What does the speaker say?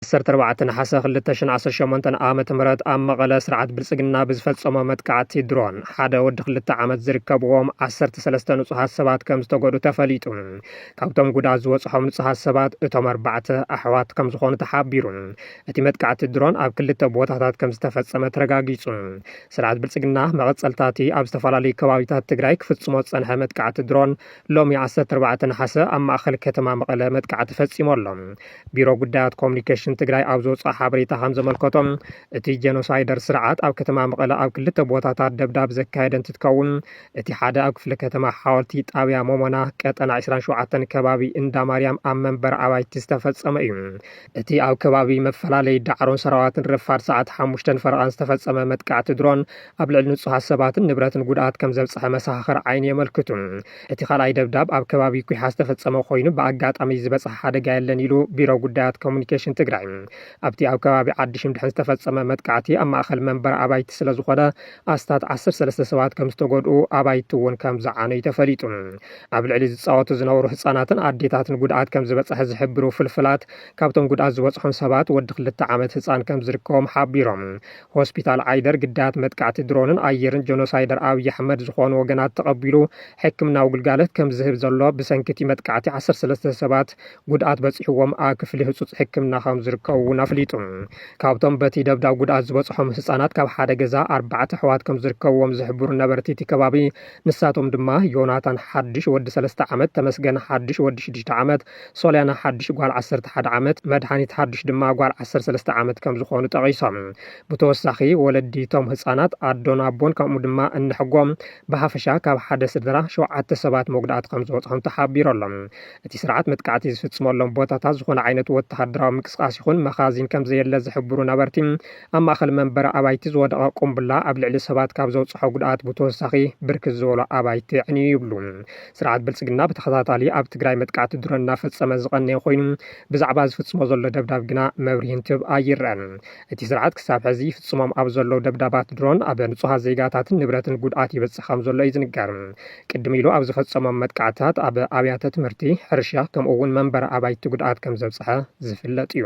ዓሰርተ ኣርባዕተ ነሓሰ ክልተ ሽሕን ዓሰርተ ሸሞንተን ዓመተ ምህረት ኣብ መቐለ ስርዓት ብልፅግና ብዝፈፀሞ መጥቃዕቲ ድሮን ሓደ ወዲ ክልተ ዓመት ዝርከብዎም ዓሰርተ ሰለስተ ንፁሃት ሰባት ከም ዝተጎድኡ ተፈሊጡ። ካብቶም ጉድኣት ዝበፅሖም ንፁሃት ሰባት እቶም ኣርባዕተ ኣሕዋት ከም ዝኾኑ ተሓቢሩ። እቲ መጥቃዕቲ ድሮን ኣብ ክልተ ቦታታት ከም ዝተፈፀመ ተረጋጊፁ። ስርዓት ብልፅግና መቐፀልታ እቲ ኣብ ዝተፈላለዩ ከባቢታት ትግራይ ክፍፅሞ ዝፀንሐ መጥቃዕቲ ድሮን ሎሚ ዓሰርተ ኣርባዕተ ነሓሰ ኣብ ማእኸል ከተማ መቐለ መጥቃዕቲ ፈፂሙ ኣሎ። ቢሮ ጉዳያት ኮሙኒኬሽን ትግራይ ኣብ ዘውፅኦ ሓበሬታ ከምዘመልከቶ እቲ ጀኖሳይደር ስርዓት ኣብ ከተማ መቐለ ኣብ ክልተ ቦታታት ደብዳብ ዘካየደ እንትትከውን እቲ ሓደ ኣብ ክፍለ ከተማ ሓወልቲ ጣብያ ሞሞና ቀጠና ዕስራን ሸውዓተን ከባቢ እንዳማርያም ኣብ መንበሪ ኣባይቲ ዝተፈፀመ እዩ። እቲ ኣብ ከባቢ መፈላለይ ዳዕሮን ሰራዋትን ረፋድ ሰዓት ሓሙሽተን ፈረቓን ዝተፈጸመ መጥቃዕቲ ድሮን ኣብ ልዕሊ ንጹሃት ሰባትን ንብረትን ጉድኣት ከም ዘብጽሐ መሰኻኽር ዓይኒ የመልክቱ። እቲ ካልኣይ ደብዳብ ኣብ ከባቢ ኩሓ ዝተፈጸመ ኮይኑ ብኣጋጣሚ ዝበጽሐ ሓደጋ የለን ኢሉ ቢሮ ጉዳያት ኮሙኒኬሽን ትግራይ። ኣብቲ ኣብ ከባቢ ዓዲ ሽምድሕን ዝተፈጸመ መጥቃዕቲ ኣብ ማእኸል መንበሪ ኣባይቲ ስለዝኾነ ኣስታት ዓሰርተ ሰለስተ ሰባት ከም ዝተጎድኡ ኣባይቲ እውን ከም ዝዓነዩ ተፈሊጡ። ኣብ ልዕሊ ዝፃወቱ ዝነበሩ ህፃናትን ኣዴታትን ጉድኣት ከም ዝበፅሐ ዝሕብሩ ፍልፍላት ካብቶም ጉድኣት ዝበፅሖም ሰባት ወዲ ክልተ ዓመት ህፃን ከም ዝርከቦም ሓቢሮም። ሆስፒታል ዓይደር ግዳያት መጥቃዕቲ ድሮንን ኣየርን ጀኖሳይደር ኣብይ ኣሕመድ ዝኾኑ ወገናት ተቐቢሉ ሕክምናዊ ግልጋሎት ከም ዝህብ ዘሎ ብሰንኪ እቲ መጥቃዕቲ ዓሰርተ ሰለስተ ሰባት ጉድኣት በፂሕዎም ኣብ ክፍሊ ህፁፅ ሕክምና ከም ዝርከቡ እውን ኣፍሊጡ። ካብቶም በቲ ደብዳብ ጉድኣት ዝበፅሖም ህፃናት ካብ ሓደ ገዛ ኣርባዕተ ኣሕዋት ከም ዝርከብዎም ዝሕብሩ ነበርቲ እቲ ከባቢ ንሳቶም ድማ ዮናታን ሓዱሽ ወዲ ሰለስተ ዓመት፣ ተመስገን ሓዱሽ ወዲ ሽዱሽተ ዓመት፣ ሶልያና ሓዱሽ ጓል ዓሰርተ ሓደ ዓመት፣ መድሃኒት ሓዱሽ ድማ ጓል ዓሰርተ ሰለስተ ዓመት ከምዝኾኑ ጠቒሶም። ብተወሳኺ ወለዲ እቶም ህፃናት፣ ኣዶን ኣቦን ከምኡ ድማ እነሕጎም ብሃፈሻ ካብ ሓደ ስድራ ሸውዓተ ሰባት መጉዳእቲ ከምዝበፅሖም ተሓቢሩ ኣሎ። እቲ ስርዓት መጥቃዕቲ ዝፍፅመሎም ቦታታት ዝኾነ ዓይነት ወተሃደራዊ ምንቅስቓስ ይኹን መኻዚን ከምዘየለ ዝሕብሩ ነበርቲ፣ ኣብ ማእኸል መንበሪ ኣባይቲ ዝወደቐ ቁምብላ ኣብ ልዕሊ ሰባት ካብ ዘብፅሖ ጉድኣት ብተወሳኺ ብርክት ዝበሉ ኣባይቲ ኣዕንዩ ይብሉ። ስርዓት ብልፅግና ብተኸታታሊ ኣብ ትግራይ መጥቃዕቲ ድሮን እናፈፀመ ዝቐነየ ኮይኑ ብዛዕባ ዝፍፅሞ ዘሎ ደብዳብ ግና መብርሂ እንትህብ ኣይረኣን። እቲ ስርዓት ክሳብ ሕዚ ይፍፅሞም ኣብ ዘለዉ ደብዳባት ድሮን ኣብ ንፁሃት ዜጋታትን ንብረትን ጉድኣት ይበፅሕ ከም ዘሎ እዩ ዝንገር። ቅድም ኢሉ ኣብ ዝፈፀሞም መጥቃዕትታት ኣብ ኣብያተ ትምህርቲ፣ ሕርሻ ከምኡ እውን መንበሪ ኣባይቲ ጉድኣት ከም ዘብፀሐ ዝፍለጥ እዩ።